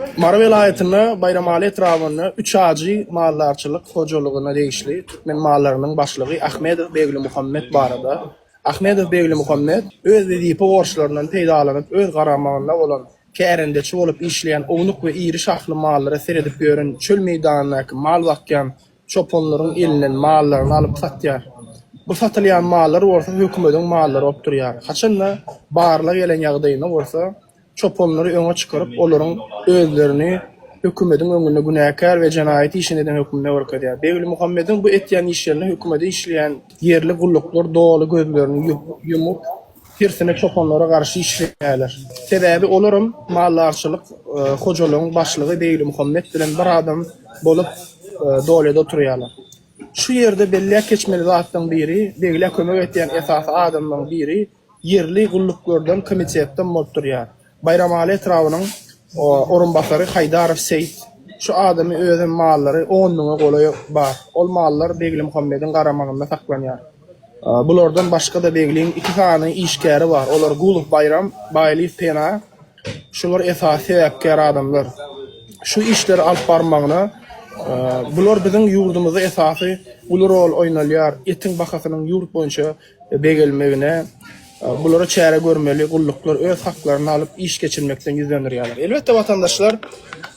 Mary welaýatyna Baýramaly etrabynda Üç ajy maldarçylyk hojalygyna degişli türkmen mallarynyň başlygy Ahmedow Beglimuhammet barada Ahmedow Beglimuhammet öz wezipe borçlaryndan peýdalanyp öz garamagynda bolan kärendeçi bolup işleýän ownuk we iri şahly mallara seredip ýören çöl meýdanyndaky mal bakýan çopanlaryň elinden mallaryny alyp satýar bu satylýan mallar bolsa hökümediň mallary bolup durýar haçanda barlag gelen ýagdaýynda bolsa çopanlary öňe çykaryp, olaryň özlerini hökümediň öňünde günäkär we jenaýat işini eden hökmünde görkezýär. Beglimuhammediň bu etýän işlerine hökümede işleýän ýerli gulluklar doly gözlerini ýumup, tersine çopanlara garşy işleýärler. Sebäbi olaram maldarçylyk hojalygyň başlygy Beglimuhammet bilen bir adam bolup Dolýada oturýarlar. Şu ýerde belläp geçmeli zatlaryň biri, Begle kömek etýän esasy adamlaryň biri, Ýerli gulluklardan komitetden bolup durýar. Baýramaly etrabynyň orunbasary Haýdarow Seýit. Şu adamy özem mallary on müňe golaý bar. Ol mallar Beglimuhammediň garamagynda saklanýar. Bulardan başga-da Begliň iki sany işgäri bar. Olar Gulow Baýram, Baýlyýew Pena. Şular esasy sebäpkär adamlar. Şu işleri alyp barmagyna bular biziň ýurdumyzda esasy uly rol oýnalýar. Etiň bahasynyň ýurt boýunça begelmegine bulara çäre görmeli gulluklar öz haklaryny alyp iş geçirmekden ýüz dönderýärler. Elbetde watandaşlar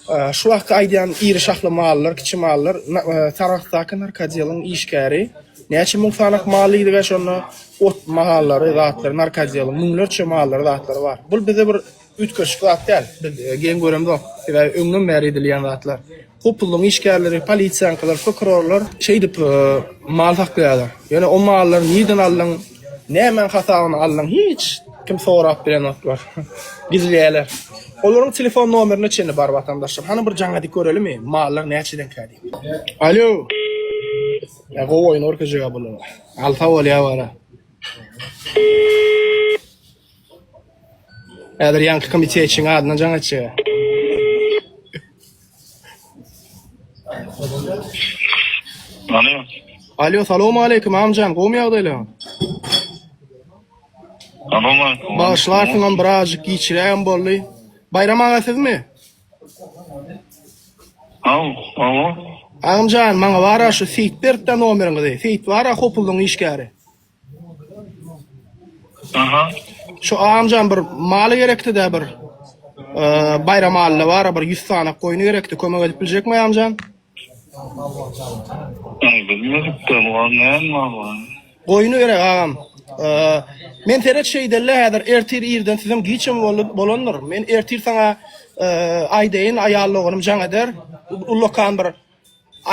e, şu wagtky aýdýan iri şahly mallar, kiçi mallar e, Sarahsdaky narkodiýalyň işgäri näçe müň sanak maly ýygy şonda ot mahallary, zatlary, narkodiýaly müňlerçe mallary, zatlary bar. Bul bize bir Üýtgeşik zat däl. Biz geň göremzok. Sebäbi öňden bäri edilýän zatlar. Hopuzlygyň işgärleri, polisiýaňkylar, prokurorlar şeýdip mal saklaýarlar. Ýöne o mallary nirden aldyň, nämäň hasabyna aldyň hiç kim sorap bilenoklar. Gizleýärler. Olaryň telefon nomerine çenli bar watandaşlar. Hany bir jaň edip görelimi, mallar näçedenkä diýip. Alýo. Ýa gowy oýun görkezjek-ä bular. Alsa bolýar wara. Häzir ýaňky komitetiň adyna jaň etjegä. Alo. Alo, salowmaleýkim, Amjan, gowumy ýagdaýlaň? Salowmaleýkim. Bagyşlarsyňam, birazjyk giçirägem boldy. Baýram aga sizmi? Aw, awa. Agamjan, maňa bara şu Seýitberkden nomeriňizi. Seýit bara, Hopuldyň işgäri. Şu agamjan bir maly gerekdidä bir baýram alynda bara bir ýüz sany goýny gerekdi kömek edip biljekmi agamjan. Goýny gerek agam. Men seret şeýdelle häzir ertir irden sizem giç hem bolandyr. Men ertir saňa aýdaýyn aýal doganym jaň eder. Ullakan bir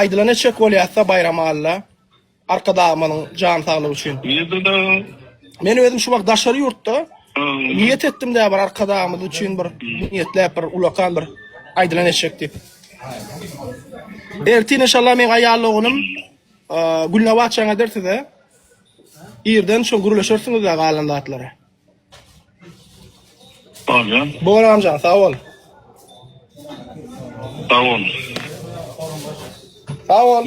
aýdylany etjek bolýasda baýram alynda. Arkadagymyzyň jan saglygy üçin. Nirde dagy? Men özüm şu wagt daşary ýurtda. Niýet etdim dä bir arkadagymyz üçin bir niýetläp bir ulakan bir aýdylan eşek diýip. Ertin inşallah men aýal ogunym Gülnabat çaň eder size. Irden şu gürleşersiňiz dä galan zatlary. Bolýar. Bor amjan, sag bol. Sag bol. Sag bol.